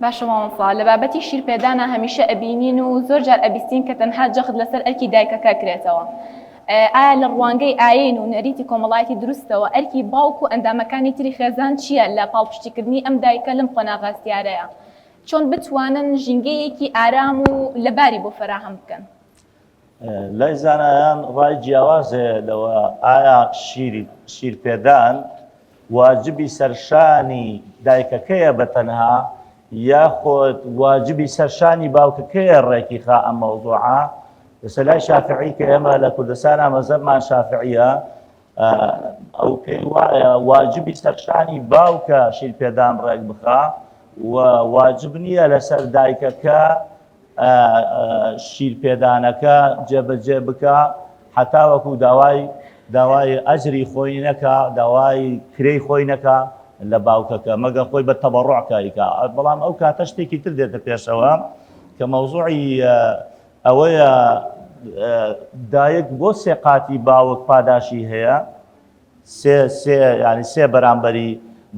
باشە مامۆستا لە بابەتی شیر پێدانا هەمیشە ئەبینین و زۆر جار ئەبیستین کە تەنها جەخت لەسەر ئەرکی دایکەکە کرێتەوە ئایا لە ڕوانگەی ئاین و نەریتی کۆمەڵایەتی دروستەوە ئەرکی باوک و ئەندامەکانی تری خێزان چیە لە پاڵپشتی کردنی ئەم دایکە لەم قۆناغە هەستیارەیا چۆن بتوانن ژینگەیەکی ئارام و لەباری بۆ فەراهەم بکەن؟ لای زانایان ڕای جیاواز هەیە لەوە ئایا شیرپێدان واجبی سەرشانی دایکەکەیە بە تەنها یاخۆت واجبی سەرشانی باوکەکەیە ڕێکی خا ئەم مەوضوعە لەسە لای شافعی کە ئێمە لە کوردستان ئامەزەبمان شافعیە ئەو پێی وایە واجبی سەرشانی باوکە شیرپێدان ڕێک بخە و واجب نییە لەسەر دایکەکە شیر پێدانەکە جێبەجێ بکا حەتاوەکو داوای داوای ئەجری خۆی نەکا داوای کرێی خۆی نەکا لە باوکەکە مەگە خۆی بە تەبەڕۆع کاریکا بەڵام ئەو کاتە شتێکی تر دێتە پێشەوە کە مەوزوعی ئەوەیە دایک بۆ سێقاتی باوک پاداشی هەیە سێ سێ یانی سێ بەرامبەری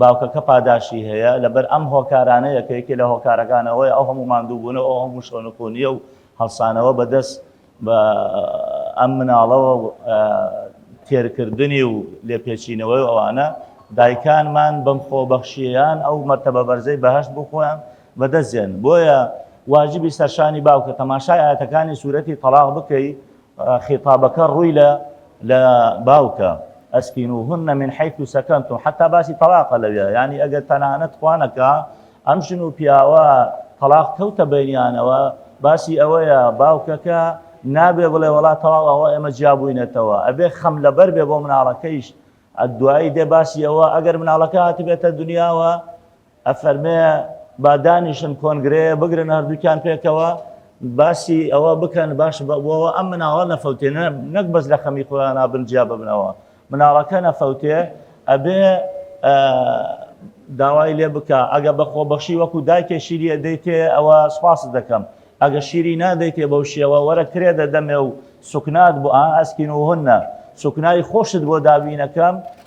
باوکەکە پاداشی هەیە لەبەر ئەم هۆکارانەیە کە یەکێ لە هۆکارەکان ئەوەیە ئەو هەموو ماندووبوونە ئەو هەموو شۆنخونیە و هەڵسانەوە بەدەست بە ئەم مناڵەوە و تێرکردنی و لێپێچینەوەی ئەوانە دایکانمان بەم خۆبەخشیان ئەو مەرتەبە بەرزەی بەهەشت بۆ خۆیان بەدەستێن بۆیە واجبی سەرشانی باوکە تەماشای ئاەتەکانی سوورەتی تەلاق بکەی خیتابەکە ڕووی لە لە باوکە، اسکنوهن من حیث سکنتم، حەتا باسی تەڵاقە لەوێ، یانی ئەگەر تەنانەت خوا نەکا ئەم ژن و پیاوە تەڵاق کەوتە بەینیانەوە باسی ئەوەیە باوکەکە نابێ بڵێ وەڵا تەواو ئەوە ئێمە جیا بووینەتەوە ئەبێ خەم لەبەر بێ بۆ مناڵەکەیش، دوایی دێ باسی ئەوە ئەگەر مناڵەکە هاتبێتە دنیاوە، ئەفەرمێ با دانیشن کۆنگرەیە بگرن هەردووکیان پێکەوە باسی ئەوە بکەن باش بەوەوە ئەم مناڵە نەفەوتێ نەک بەس لە خەمی خۆیان نابن جیا ببنەوە مناڵەکە نەفەوتێ ئەبێ داوای لێ بکە ئەگە بە خۆبەخشی وەکو دایکێ شیریە دەیتێ ئەوە سپاس دەکەم ئەگە شیری نادەیتێ بەو شێوە وەرە کرێ دەدەمێ و سوکنات بۆ ئاسکین و هەنە سوکنایی خۆشت بۆ دابینەکەم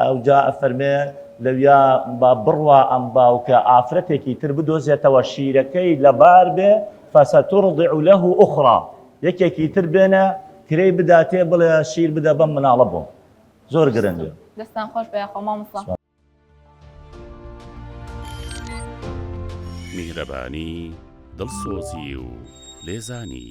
ئەوجا ئەفەرمێ لەویا با بڕوا ئەم باوکە ئافرەتێکی تر بدۆزێتەوە شیرەکەی لەبار بێ فسترضع له اخری یەکێکی تر بێنە کرێی بداتێ بڵێ شیر بدە بەم مناڵە بۆم زۆر گرنگە. دەستان خۆش بێ یاخوا مامۆستا. میهرەبانی، دڵسۆزی و لێزانی.